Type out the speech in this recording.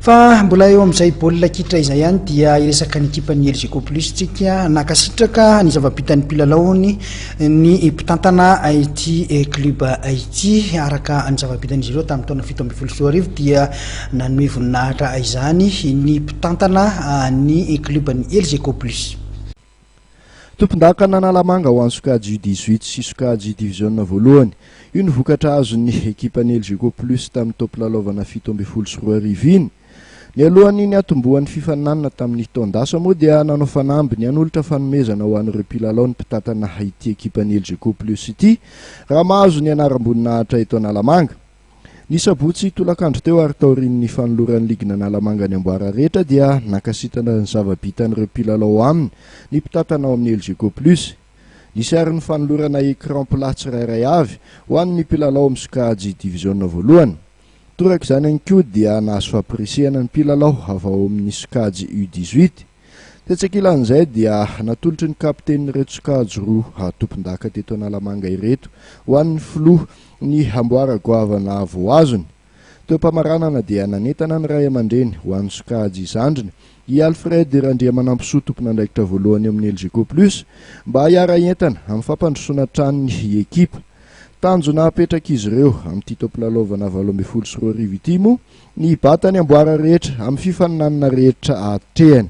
Fa mbola eo amin'izay baolina kitra izay ihany dia hiresaka ny ekipan'ny Elgeco Plus isika. Nankasitraka ny zava-bitan'ny mpilalaony ny mpitantana ity club ity. Araka ny zava-bitan'izy ireo tamin'ny taona fito ambin'ny folo sy roa arivo dia nanome voninahitra izany ny mpitantana ny club ny Elgeco Plus. Tompondakan'Analamanga ho an'ny sokajy U dix-huit sy sokajy diviziona voalohany. Io no vokatra azon'ny ekipan'ny Elgeco Plus tamin'ny taom-pilalaovana fito ambin'ny folo sy roa arivo iny. Nialohan'ny niatombohan'ny fifaninanana tamin'ny taon-dasa moa dia nanao fanamby ny hanolotra fanomezana ho an'ireo mpilalao ny mpitantana ity ekipan'ny Elgeco Plus ity raha mahazo ny anaram-boninahitra eto Analamanga. Ny sabotsy tolakandro teo ary taorian'ny fanoloran'ny ligin'Analamanga ny amboara rehetra dia nankasitana ny zava-bitan'ireo mpilalao ao aminy ny mpitantana ao amin'ny Elgeco Plus. Nisy ary ny fanolorana écran plat tsirairay avy ho an'ny mpilalao amin'ny sokajy diviziona voalohany. Torak'izany ihany koa dia nahazo fampirisihana ny mpilalao avy ao amin'ny sokajy U dix-huit. Tetsy ankilan'izay dia natolotry ny kapitenin'ireto sokajy roa tompondaka teto Analamanga ireto ho an'ny filoha ny amboara goavana voaazony. Teo am-pamaranana dia nanentana ny ray aman-dreny ho an'ny sokajy zandriny, i Alfred Randriamanampisoa tompon'andraikitra voalohany eo amin'ny Elgeco Plus mba hiara-hientana amin'ny fampandrosoana tranony i ekipa. Tanjona apetrak'izy ireo amin'ity taom-pilalaovana valo ambin'ny folo sy roa arivo ity moa Ny bata ny amboara rehetra, amin'ny fifaninanana rehetra atrehany.